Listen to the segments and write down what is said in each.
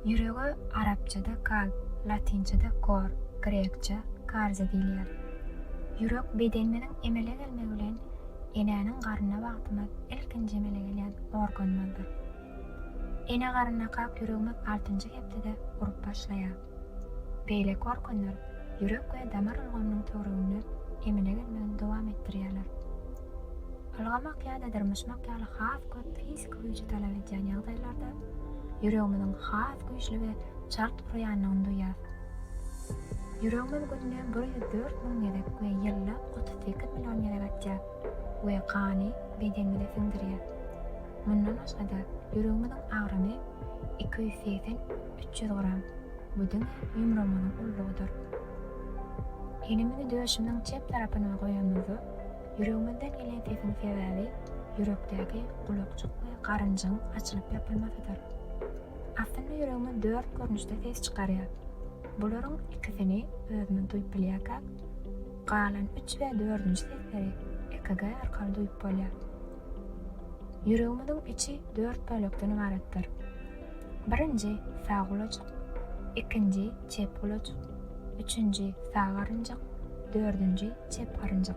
Ýürege arapçada kalb, latynçada cor, grekçe, kardia diýilýär. Ýürek bedenimiziň emele gelmegi bilen enäniň garnyna wagtymyz ilkinji emele gelýän organymyzdyr. Ene garynakak ýüregimiz altynjy hepdede urup başlaýar. Beýleki organlar ýürek we damar ulgamynyň töwereginde emele gelmegini dowam etdirýärler. Ylgamak ýa-da dyrmaşmak ýaly has köp fiziki güýji talap edýän ýagdaýlarda ýüregimiziň has güýçli we çalt uraýandygyny duýýarys. Ýüregimiz günde bir ýüz dört müň gezek we ýylda otuz sekiz million gezek atýar we gany bedenimize siňdirýär. Mundan başga-da, ýüregimiziň agramy iki ýüz segsen, üç ýüz gram, bu diňe ýumrugymyzyň ullugydyr. Elimizi döşümiziň çep tarapyna goýanymyzda, Ýüregimizden gelen sesiň sebäbi ýürekdäki gulakjyk we garynjyň açylyp ýapylmasydyr. Aslynda ýüregimiz dört görnüşde ses çykarýar. Bularyň ikisini özümiz duýup bilýärkäk, galan üç we dördünji sesleri EKG arkaly duýup bolýar. Ýüregimiziň içi dört bölekden ybaratdyr. Birinji, sag gulajyk, ikinji, çep gulajyk, üçünji, sag garynjak, dördünji, çep garynjak.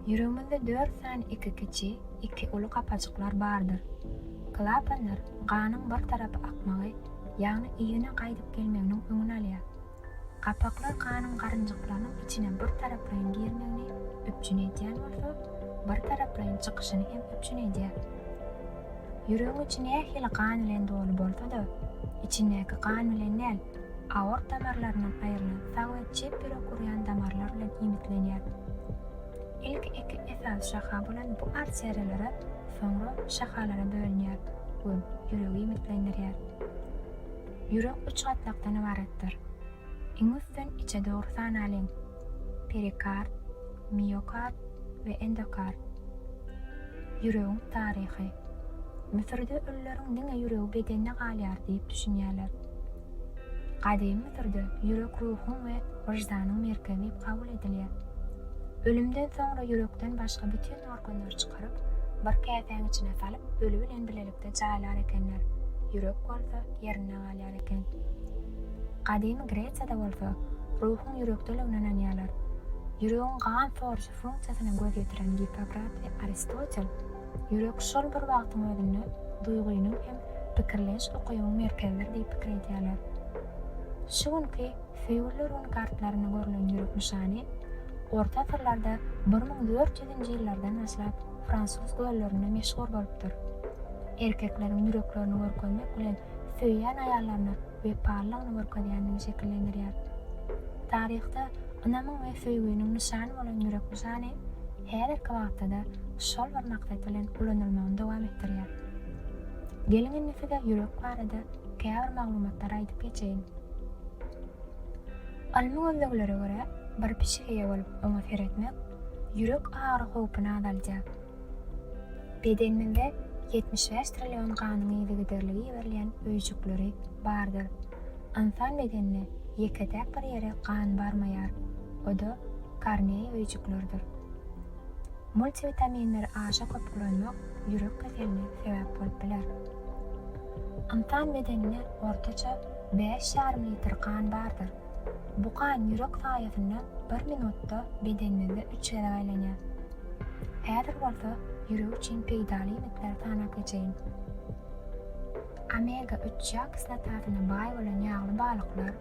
Ýüregimizde dört sany iki kiçi, iki uly gapajyklar bardyr. Klapanlar ganyň bir tarapa akmagy, ýagny yzyna gaýdyp gelmeginiň öňüni alýar. Gapaklar ganyň garynjyklarynyň içine bir taraplaýyn girmegini üpjün edýän bolsa, bir taraplaýyn çykyşyny hem üpjün edýär. Ýüregiň içi nähili gan bilen doly bolsa-da, içindäki gan bilen däl, aort damarlaryndan aýrylan sag we çep ýürek urýan damarlar bilen iýmitlenýär. Ilki iki esasy şaha bolan bu arteriýalara soňra şahalara bölünýär we ýüregi iýmitlendirýär. Ýürek üç gatlakdan ybaratdyr. Iň üstün içe dogry sanalyň. Perikard, miokard we endokard. Ýüregiň taryhy. Müsürde ölüleriň diňe ýüregi bedende galýar diýip düşünýärler. Gadymy Müsürde ýürek ruhuň we wyždanyň merkezi diýip kabul edilýär. Ölümden soňra ýürekden başga bütin organlary çykaryp, bir käsäň içine salyp, öli bilen bilelikde. ýürekde jaýlar ekenler, ýürek bolsa ýerinde galýar eken. Gadymy Gresiýada bolsa ruhuň ýürekdeligine ynanýarlar. Ýüregiň gan soruşy funksiýasyna göz ýetiren Gippokrat we Aristotel, ýürek şol bir wagtyň özünde duýgynyň hem pikirlenç ukybyň merkezidir diýip pikir edýärler. Şu günki Fýurleryň kartlarynda görlen ýürek nyşany orta asyrlarda bir müň dört ýüzünji ýyllardan başlap fransuz göllerinde meşhur bolupdyr. Erkekleriň ýüreklerini görkezmek bilen söýýän aýallaryna wepalylygyny görkezýändigini şekillendirýär. Taryhda ynamyň we söýginiň nyşany bolan ýürek nyşany häzirki wagtda-da şol bir maksat bilen ulanylmagyny dowam etdirýär. Geliň indi size ýürek barada Käbir maglumatlary aýdyp geçeýin. Ylmy gözleglere görä, bir pişik eýe bolup oňa seretmek ýürek agyry howpuny azaldýar. Bedenimizde ýetmiş bäş trillion ganyň yzygiderli iberilýän öýjükleri bardyr. Ynsan bedenine ýeke-täk bir ýere gan barmaýar, o-da korneý öýjüklerdir. Multivitaminleri aşa köp ulanmak ýürek keseline sebäp bolup biler. Ynsan bedeninde ortaça bäş ýarym litr gan bardyr. Bu gan ýürek saýasynda bir minutda bedenimizde üç gezek aýlanýar. Häzir bolsa ýürek üçin peýdaly iýmitleri sanap geçeýin. Omega üç ýag kislotasyna baý bolan ýagly balyklar,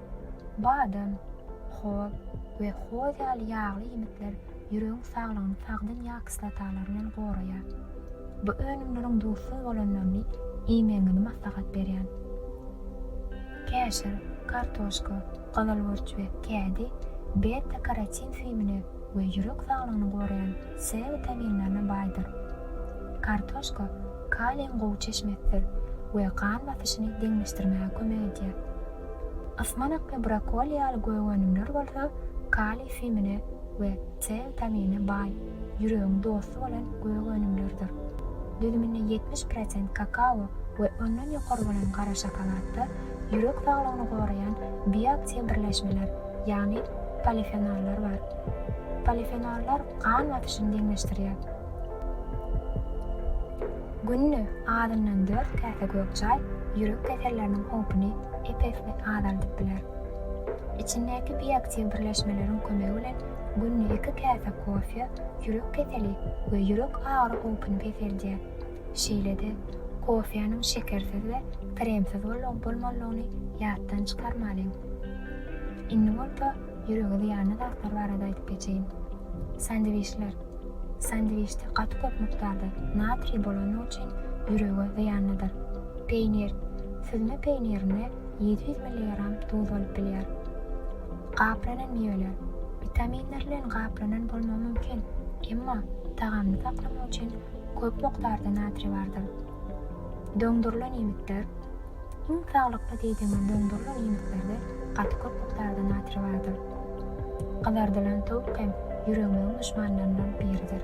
Badam, hoz we hoz ýaly ýagly iýmitler ýüregiň saglygyny sagdyn ýag kislotalary bilen goraýar. Bu önümleriň duzsuz bolanlaryny iýmegiňizi maslahat berýän. Käşir, kartoşka, gyzylburç we kädi beta-karotin süýümine we ýürek saglygyny goraýan C witaminlerine baýdyr. Kartoşka kaliýiň gowy çeşmesidir we gan basyşyny deňleşdirmäge kömek edýär. Ysmanakly brokoli ýaly gök-önümler bolsa kaliý simine we C witaminine baý, ýüregiň dosty bolan gök-önümlerdir. Düzüminde ýetmiş prosent kakao we ondan ýokary bolan gara şokoladda ýürek saglygyny goraýan bioaktiw birleşmeler, ýagny polifenollar bar. Polifenollar gan basyşyny deňleşdirýär. Günde azyndan dört käse gök çaý ýürek keselleriniň howpuny ep-esli azaldyp biler. Içindäki bioaktiw birleşmeleriň kömegi bilen günde iki käse kofe ýürek keseli we ýürek agyry howpuny peseldýär. Şeýle-de, kofäniň şekersiz we kremsiz bolup-bolmanlygyny ýatdan çykarmalyň. Indi bolsa Ýürege zyýanly zatlar barada aýdyp geçeýin. Sandwiçler. Sandwiçde gaty köp mukdarda natriý bolany üçin ýürege zyýanlydyr. Peýnir. Süzme peýnirinde ýedi ýüz milligram duz bolup bilýär. Gaplanan miweler. Witaminler bilen gaplanan bolmagy mümkin, emma tagamly saklamak üçin köp mukdarda natriý bardyr. Doňdurylan iýmitler. Iň sağlykly diýdimiz dondurylan iýmitlerde gaty köp mukdarda natriý bardyr. Gyzardylan towuk hem ýüregimiziň duşmanlaryndan biridir.